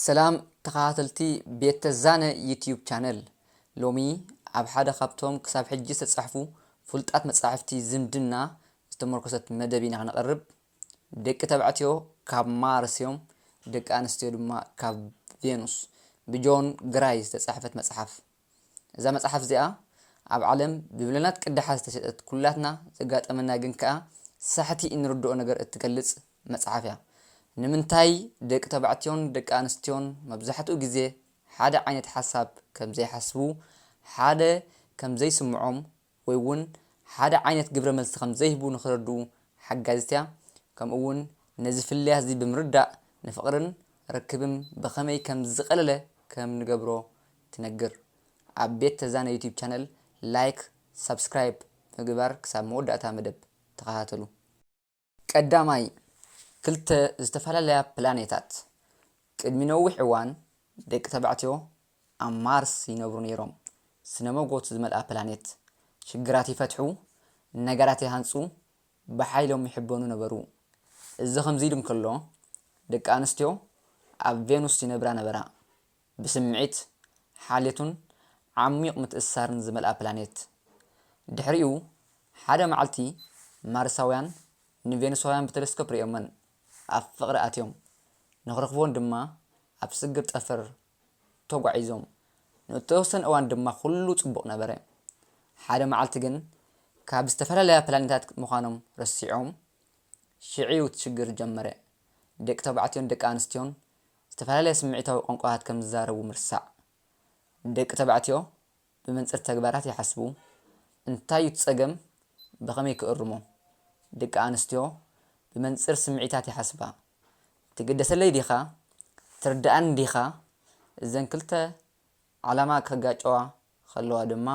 ሰላም ተኸታተልቲ ቤት ተዛነ ዩትዩብ ቻነል ሎሚ ኣብ ሓደ ካብቶም ክሳብ ሕጂ ዝተጻሕፉ ፍሉጣት መጻሕፍቲ ዝምድና ዝተመርኮሰት መደብ ኢና ክንቐርብ ደቂ ተባዕትዮ ካብ ማርስ እዮም ደቂ ኣንስትዮ ድማ ካብ ቬኑስ ብጆን ግራይ ዝተጻሕፈት መጽሓፍ እዛ መጽሓፍ እዚኣ ኣብ ዓለም ብሚልዮናት ቅዳሓት ዝተሸጠት ኩላትና ዘጋጠመና ግን ከኣ ሳሕቲ እንርድኦ ነገር እትገልጽ መጽሓፍ እያ። ንምንታይ ደቂ ተባዕትዮን ደቂ ኣንስትዮን መብዛሕትኡ ግዜ ሓደ ዓይነት ሓሳብ ከም ዘይሓስቡ ሓደ ከም ዘይስምዖም ወይ ውን ሓደ ዓይነት ግብረ መልሲ ከም ዘይህቡ ንኽረድኡ ሓጋዚት እያ፣ ከምኡ ውን ነዚ ፍልልያት እዚ ብምርዳእ ንፍቕርን ርክብም ብኸመይ ከም ዝቐለለ ከም ንገብሮ ትነግር። ኣብ ቤት ተዛነ ዩትዩብ ቻነል ላይክ ሳብስክራይብ ብምግባር ክሳብ መወዳእታ መደብ ተኸታተሉ። ቀዳማይ፣ ክልተ ዝተፈላለያ ፕላኔታት፣ ቅድሚ ነዊሕ እዋን ደቂ ተባዕትዮ ኣብ ማርስ ይነብሩ ነይሮም፣ ስነ መጎት ዝመልኣ ፕላኔት፣ ሽግራት ይፈትሑ፣ ነገራት ይሃንጹ፣ ብሓይሎም ይሕበኑ ነበሩ። እዚ ከምዚ ኢሉ እንከሎ፣ ደቂ ኣንስትዮ ኣብ ቬኑስ ይነብራ ነበራ። ብስምዒት፣ ሓልዮትን ዓሚዩቕ ምትእስሳርን ዝመልኣ ፕላኔት። ድሕሪኡ ሓደ መዓልቲ ማርሳውያን ንቬኑሳውያን ብተለስኮፕ ርእዮመን ኣብ ፍቕሪ ኣትዮም፣ ንኽረኽቡወን ድማ ኣብ ስግር ጠፈር ተጓዒዞም። ንእተወሰነ እዋን ድማ ኵሉ ጽቡቕ ነበረ። ሓደ መዓልቲ ግን ካብ ዝተፈላለያ ፕላኔታት ምዃኖም ረሲዖም፣ ሽዕ'ዩ እቲ ሽግር ዝጀመረ። ደቂ ተባዕትዮን ደቂ ኣንስትዮን ዝተፈላለየ ስምዒታዊ ቋንቋታት ከም ዝዛረቡ ምርሳዕ። ደቂ ተባዕትዮ ብመንጽር ተግባራት ይሓስቡ፣ እንታይ እዩ እቲ ጸገም? ብኸመይ ክእርሞ? ደቂ ኣንስትዮ ብመንጽር ስምዒታት ይሓስባ፣ ትግደሰለይ ዲኻ? ትርድኣኒ ዲኻ? እዘን ክልተ ዓላማ ከጋጨዋ ኸለዋ ድማ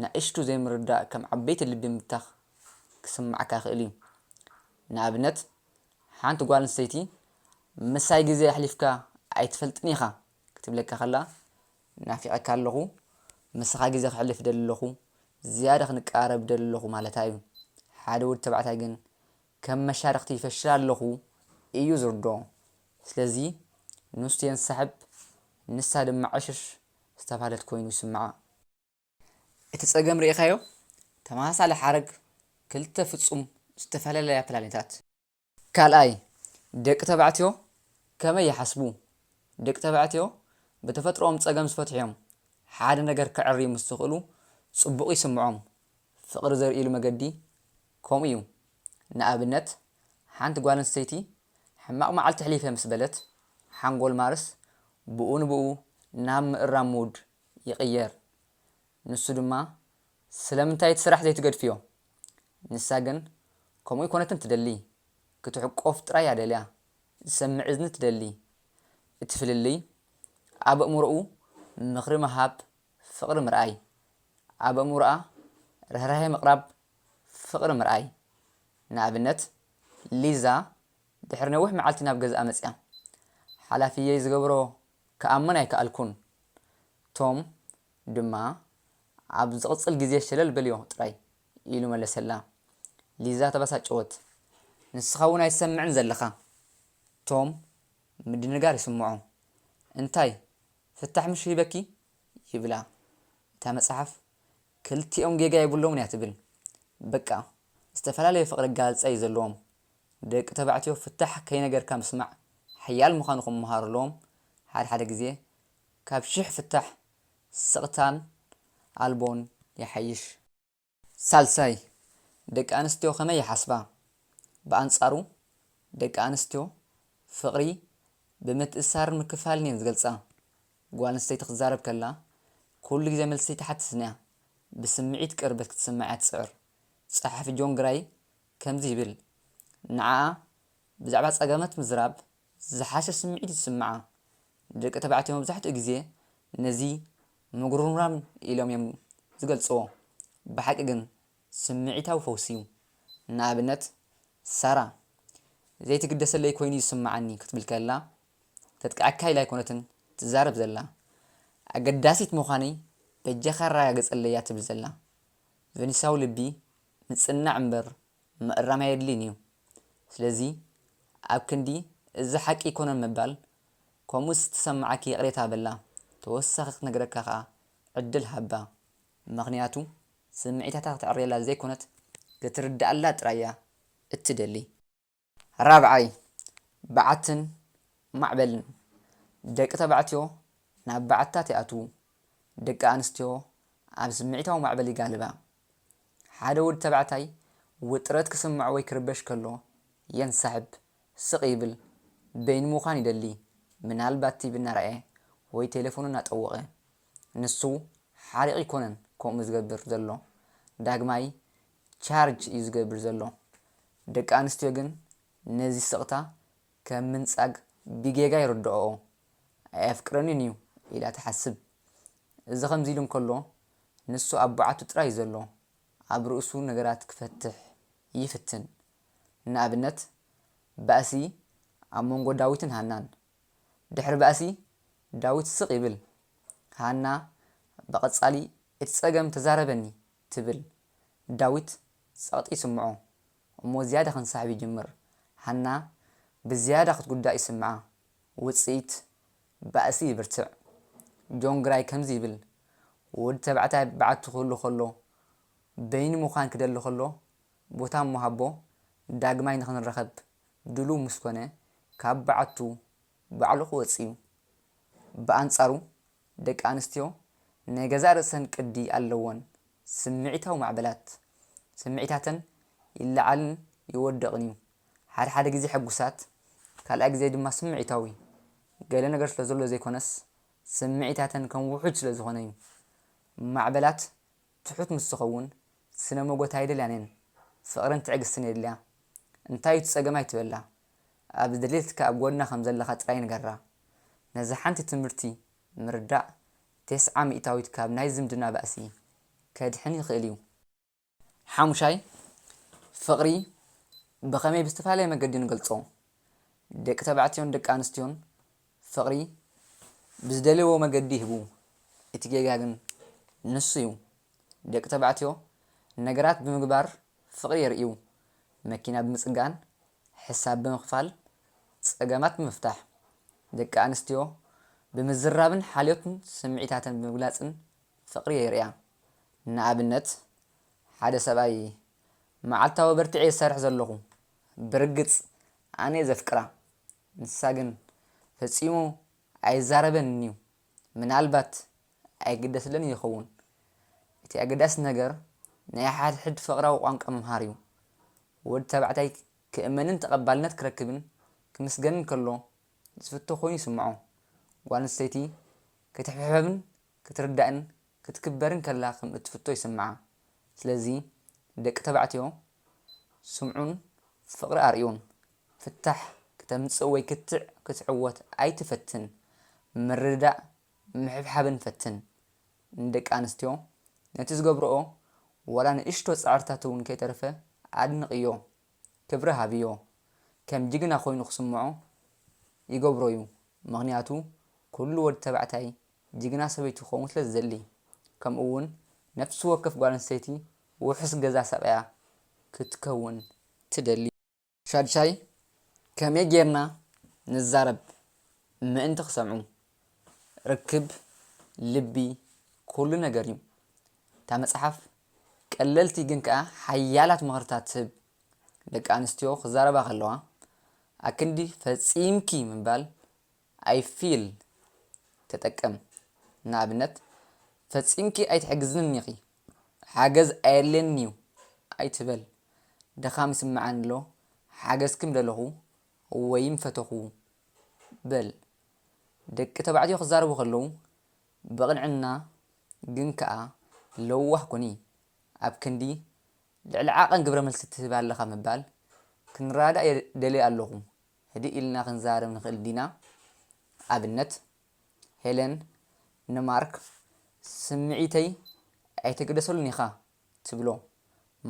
ንኣሽቱ ዘይምርድዳእ ከም ዓበይቲ ልቢ ምብታኽ ክስምዓካ ይኽእል እዩ። ንኣብነት፣ ሓንቲ ጓል ኣንስተይቲ ምሳይ ግዜ ኣሕሊፍካ ኣይትፈልጥን ኢኻ ክትብለካ ኸላ፣ ናፊቐካ ኣለኹ፣ ምሳኻ ግዜ ከሕልፍ እደሊ ኣለኹ፣ ዝያዳ ክንቀራረብ እደሊ ኣለኹ ማለታ እዩ። ሓደ ወዲ ተባዕታይ ግን ከም መሻርኽቲ ይፈሽል ኣለኹ እዩ ዝርድኦ። ስለዚ ንሱ የንሳሕብ ንሳ ድማ ዕሽሽ ዝተባህለት ኮይኑ ይስምዓ። እቲ ጸገም ርኢኻዮ? ተመሳሳሊ ሓረግ ክልተ ፍጹም ዝተፈላለያ ፕላኔታት። ካልኣይ፣ ደቂ ተባዕትዮ ከመይ ይሓስቡ? ደቂ ተባዕትዮ ብተፈጥሮኦም ጸገም ዝፈትሑ'ዮም። ሓደ ነገር ከዐርዩ ምስ ዝኽእሉ ጽቡቕ ይስምዖም። ፍቕሪ ዘርእይሉ መገዲ ከምኡ'ዩ። ንኣብነት ሓንቲ ጓል ኣንስተይቲ ሕማቕ መዓልቲ ኣሕሊፈ ምስ በለት፣ ሓንጎል ማርስ ብኡ ንብኡ ናብ ምእራም mood ይቕየር። ንሱ ድማ ስለምንታይ እቲ ስራሕ ዘይትገድፍዮ? ንሳ ግን ከምኡ ኣይኮነትን ትደሊ፣ ክትሕቆፍ ጥራይ እያ ደልያ፣ ዝሰምዕ እዝኒ ትደሊ። እቲ ፍልልይ ኣብ ኣእምሮኡ ምኽሪ ምሃብ ፍቕሪ ምርኣይ፣ ኣብ ኣእምሮኣ ርህራሄ ምቕራብ ፍቕሪ ምርኣይ። ንኣብነት፣ ሊዛ ድሕሪ ነዊሕ መዓልቲ ናብ ገዝኣ መጺኣ። ሓላፊየይ ዝገብሮ ክኣምን ኣይከኣልኩን። ቶም ድማ፣ ኣብ ዝቕጽል ግዜ ሸለል በልዮ ጥራይ፣ ኢሉ መለሰላ። ሊዛ ተበሳጨወት። ንስኻ'ውን ኣይትሰምዕን ዘለኻ። ቶም ምድንጋር ይስምዖ። እንታይ፣ ፍታሕ ምሽ ሂበኪ? ይብላ። እታ መጽሓፍ ክልቲኦም ጌጋ የብሎምን እያ ትብል በቃ ዝተፈላለየ ፍቅሪ ኣገላልጻ እዩ ዘለዎም ደቂ ተባዕትዮ ፍታሕ ከይነገርካ ምስማዕ ሓያል ምኻኑ ክመሃሩ ኣለዎም ሓደ ሓደ ግዜ ካብ ሽሕ ፍታሕ ስቅታን ኣልቦን ይሓይሽ። ሳልሳይ ደቂ ኣንስትዮ ከመይ ይሓስባ ብኣንጻሩ ደቂ ኣንስትዮ ፍቅሪ ብምትእስሳርን ምክፍፋልን እየን ዝገልጻ ጓል ኣንስተይቲ ክትዛረብ ከላ ኵሉ ግዜ መልሲ ኣይትሓትትን እያ፣ ብስምዒት ቅርበት ክትስማዕ እያ ትጽዕር። ጸሓፊ ጆን ግራይ ከምዚ ይብል፣ ንዓኣ ብዛዕባ ጸገማት ምዝራብ ዝሓሸ ስምዒት እዩ ዝስምዓ። ደቂ ተባዕትዮ መብዛሕትኡ ግዜ ነዚ ምጕርምራም ኢሎም እዮም ዝገልጽዎ፣ ብሓቂ ግን ስምዒታዊ ፈውሲ እዩ። ንኣብነት ሳራ፣ ዘይትግደሰለይ ኰይኑ እዩ ዝስምዓኒ ክትብል ከላ ተጥቅዐካ ኢላ ኣይኮነትን ትዛረብ ዘላ ኣገዳሲት ምዃነይ በጃኻ ኣረጋግጸለይ እያ ትብል ዘላ። ቨኒሳዊ ልቢ ምጽንናዕ እምበር ምእራም ኣየድልይን እዩ። ስለዚ ኣብ ክንዲ እዚ ሓቂ ኣይኮነን ምባል ከምኡ ዝተሰመዓኪ ይቕሬታ በላ ተወሳኺ ክትነግረካ ከኣ ዕድል ሃባ። ምኽንያቱ ስምዒታታ ከተዕርየላ ዘይኮነት ክትርደኣላ ጥራይ እያ እትደሊ። ራብዓይ፣ በዓትን ማዕበልን፣ ደቂ ተባዕትዮ ናብ በዓትታት ይኣትዉ፣ ደቂ ኣንስትዮ ኣብ ስምዒታዊ ማዕበል ይጋልባ። ሓደ ወዲ ተባዕታይ ውጥረት ክስምዖ ወይ ክርበሽ ከሎ፣ የንሳሕብ፣ ስቕ ይብል፣ በይኑ ምዃን ይደሊ፣ ምናልባት ቲቪ እናረኣየ ወይ ቴለፎኑ እናጠወቐ። ንሱ ሓሪቕ ኣይኮነን ከምኡ ዝገብር ዘሎ፣ ዳግማይ ቻርጅ እዩ ዝገብር ዘሎ። ደቂ ኣንስትዮ ግን ነዚ ስቕታ ከም ምንጻግ ብጌጋ ይርድኦኦ። ኣየፍቅረንን እዩ ኢላ ትሓስብ። እዚ ከምዚ ኢሉ እንከሎ ንሱ ኣብ በዓቱ ጥራይ እዩ ዘሎ። ኣብ ርእሱ ነገራት ክፈትሕ ይፍትን። ንኣብነት ባእሲ ኣብ መንጎ ዳዊትን ሃናን። ድሕሪ ባእሲ ዳዊት ስቕ ይብል። ሃና ብቐጻሊ እቲ ጸገም ተዛረበኒ ትብል። ዳዊት ጸቕጢ ይስምዖ እሞ ዝያዳ ክንሳሕብ ይጅምር። ሃና ብዝያዳ ክትጉዳእ ይስምዓ። ውጽኢት፣ ባእሲ ይብርትዕ። ጆን ግራይ ከምዚ ይብል፣ ወዲ ተባዕታይ በዓቲ ክህሉ ከሎ፣ በይኑ ምዃን ክደሊ ከሎ፣ ቦታ እሞ ሃቦ፣ ዳግማይ ንኽንራኸብ ድሉው ምስ ኮነ፣ ካብ በዓቱ ባዕሉ ክወጽእ'ዩ። ብኣንጻሩ ደቂ ኣንስትዮ ናይ ገዛእ ርእሰን ቅዲ ኣለወን፣ ስምዒታዊ ማዕበላት ስምዒታተን ይለዓልን ይወድቕን እዩ፣ ሓደ ሓደ ግዜ ሕጉሳት ካልኣይ ግዜ ድማ ስምዒታዊ፣ ገለ ነገር ስለ ዘሎ ዘይኮነስ ስምዒታተን ከም ውሑጅ ስለ ዝኾነ እዩ፣ ማዕበላት ትሑት ምስ ዝኸውን ስነ ሞጎት ኣይደልያን እየን፣ ፍቕርን ትዕግስትን የድልያ፣ እንታይ እዩ እቲ ጸገም ኣይትበላ፣ ኣብ ዝደልየትካ ኣብ ጎና ከም ዘለኻ ጥራይ ንገራ። ነዛ ሓንቲ ትምህርቲ ምርዳእ ቴስዓ ሚእታዊት ካብ ናይ ዝምድና ባእሲ ከድሕን ይኽእል እዩ። ሓሙሻይ፣ ፍቕሪ ብኸመይ ብዝተፈላለየ መገዲ ንገልጾ? ደቂ ተባዕትዮን ደቂ ኣንስትዮን ፍቕሪ ብዝደልይዎ መገዲ ይህቡ፣ እቲ ጌጋ ግን ንሱ'ዩ። ደቂ ተባዕትዮ ነገራት ብምግባር ፍቕሪ የርእዩ፣ መኪና ብምጽጋን፣ ሕሳብ ብምኽፋል፣ ጸገማት ብምፍታሕ። ደቂ ኣንስትዮ ብምዝራብን ሓልዮትን ስምዒታተን ብምግላጽን ፍቕሪ የርእያ። ንኣብነት ሓደ ሰብኣይ መዓልታዊ በርቲዐ'የ ዝሰርሕ ዘለኹ፣ ብርግጽ ኣነ'የ ዘፍቅራ ንሳ ግን ፈጺሙ ኣይዛረበንን'ዩ፣ ምናልባት ኣይግደስለንን ይኸውን። እቲ ኣገዳሲ ነገር ናይ ሓድሕድ ፍቕራዊ ቋንቋ ምምሃር'ዩ። ወዲ ተባዕታይ ክእመንን ተቐባልነት ክረክብን ክምስገንን ከሎ ዝፍቶ ኮይኑ ይስምዖ። ጓል ኣንስተይቲ ክትሕብሐብን ክትርዳእን ክትክበርን ከላ ከም እትፍቶ ይስምዓ። ስለዚ ደቂ ተባዕትዮ ስምዑን ፍቕሪ ኣርእዩን። ፍታሕ ክተምጽእ ወይ ክትዕ ክትዕወት ኣይትፈትን። ምርድዳእ ምሕብሓብን ፈትን። ንደቂ ኣንስትዮ ነቲ ዝገብርኦ ዋላ ንእሽቶ ጻዕርታት እውን ከይተረፈ ኣድንቕዮ። ክብሪ ሃብዮ። ከም ጅግና ኮይኑ ክስምዖ ይገብሮ'ዩ ምኽንያቱ ኩሉ ወዲ ተባዕታይ ጅግና ሰበይቱ ክኸውን ስለ ዝደሊ፣ ከምኡ'ውን ነፍሲ ወከፍ ጓል ኣንስተይቲ ውሑስ ገዛ ሰቒያ ክትከውን ትደሊ። ሻዱሻይ፣ ከመይ ጌርና ንዛረብ ምእንቲ ክሰምዑ። ርክብ ልቢ ኩሉ ነገር እዩ። እታ መጽሓፍ ቀለልቲ ግን ከኣ ሓያላት ምኽርታት ትህብ። ደቂ ኣንስትዮ ክዛረባ ከለዋ፣ ኣክንዲ ፈጺምኪ ምባል ኣይ ፊል ተጠቀም ንኣብነት ፈጺምኪ ኣይትሕግዝንን ኢኺ ሓገዝ ኣየድልየንን'ዩ ኣይትበል ድኻም ይስምዓኒ'ሎ ሓገዝኪ ምደለኹ ወይ ምፈተኹ በል ደቂ ተባዕትዮ ክዛረቡ ከለዉ ብቕንዕና ግን ከኣ ለዋህ ኩኒ ኣብ ክንዲ ልዕሊ ዓቐን ግብረመልሲ ትህቢ ኣለኻ ምባል ክንራዳእ ደልየ ኣለኹ ህድእ ኢልና ክንዛረብ ንኽእል ዲና? ኣብነት፣ ሄለን ንማርክ ስምዒተይ ኣይትግደሰሉን ኢኻ ትብሎ።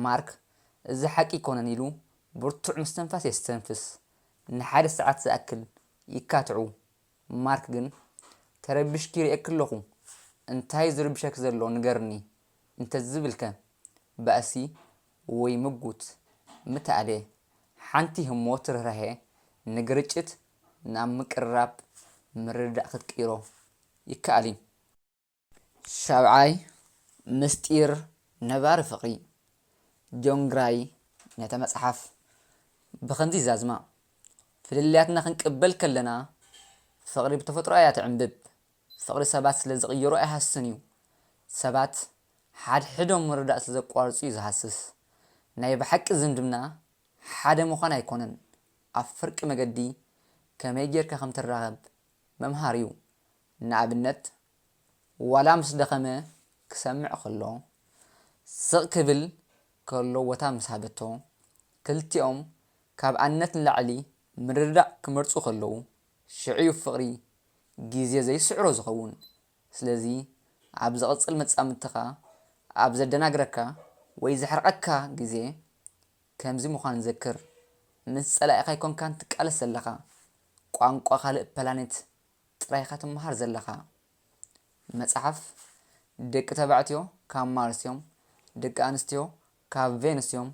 ማርክ እዚ ሓቂ ኣይኰነን ኢሉ ብርቱዕ ምስትንፋስ የስተንፍስ። ንሓደ ሰዓት ዝኣክል ይካትዑ። ማርክ ግን ተረቢሽኪ ይርእየኪ ኣለኹ፣ እንታይ'ዩ ዝርብሸኪ ዘሎ ንገርኒ እንተዝብልከ? ባእሲ ወይ ምጉት ምተኣልየ ሓንቲ ህሞት ርህራሄ ንግርጭት ናብ ምቅርራብ ምርድዳእ ክትቅይሮ ይከኣል እዩ። ሻብዓይ፣ ምስጢር ነባሪ ፍቕሪ። ጆን ግራይ ነታ መጽሓፍ ብኸምዚ ይዛዝማ፣ ፍልልያትና ክንቅበል ከለና ፍቕሪ ብተፈጥሮኣ እያ ትዕምብብ። ፍቕሪ ሰባት ስለ ዝቕይሮ ኣይሃስስን እዩ። ሰባት ሓድሕዶም ምርዳእ ስለ ዘቋርጹ እዩ ዝሃስስ። ናይ ብሓቂ ዝምድና ሓደ ምዃን ኣይኮነን፣ ኣብ ፍርቂ መገዲ ከመይ ጌርካ ከም ትራኸብ ምምሃር እዩ። ንኣብነት ዋላ ምስ ደኸመ ክሰምዕ ከሎ፣ ስቕ ክብል ከሎ ቦታ ምስ ሃበቶ፣ ክልቲኦም ካብ ኣነት ንላዕሊ ምርድዳእ ክመርጹ ከለዉ፣ ሽዑ'ዩ ፍቕሪ ግዜ ዘይስዕሮ ዝኸውን። ስለዚ ኣብ ዝቕጽል መጻምድትኻ ኣብ ዘደናግረካ ወይ ዘሕርቐካ ግዜ ከምዚ ምዃኑ ዘክር፣ ምስ ጸላኢኻ ኣይኮንካን ትቃለስ ዘለኻ፣ ቋንቋ ካልእ ፕላኔት ጥራይ'ኻ ትመሃር ዘለኻ። መጽሓፍ ደቂ ተባዕትዮ ካብ ማርስ'ዮም፣ ደቂ ኣንስትዮ ካብ ቬኑስ'ዮም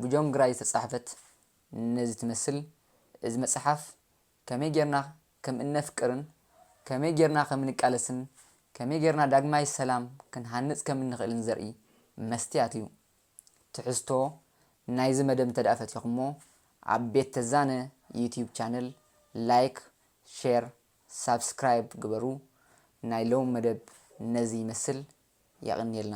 ብጆን ግራይ ዝተጻሕፈት ነዚ ትመስል እዚ መጽሓፍ ከመይ ጌርና ከም እነፍቅርን ከመይ ጌርና ከም እንቃለስን ከመይ ጌርና ዳግማይ ሰላም ክንሃንጽ ከም እንኽእልን ዘርኢ መስትያት እዩ። ትሕዝቶ ናይዚ መደብ እንተድኣ ፈቲኹሞ ኣብ ቤት ተዛነ ዩቱብ ቻነል ላይክ ሼር ሳብስክራይብ ግበሩ ናይ ሎሚ መደብ ነዚ ይመስል የቕንየልና።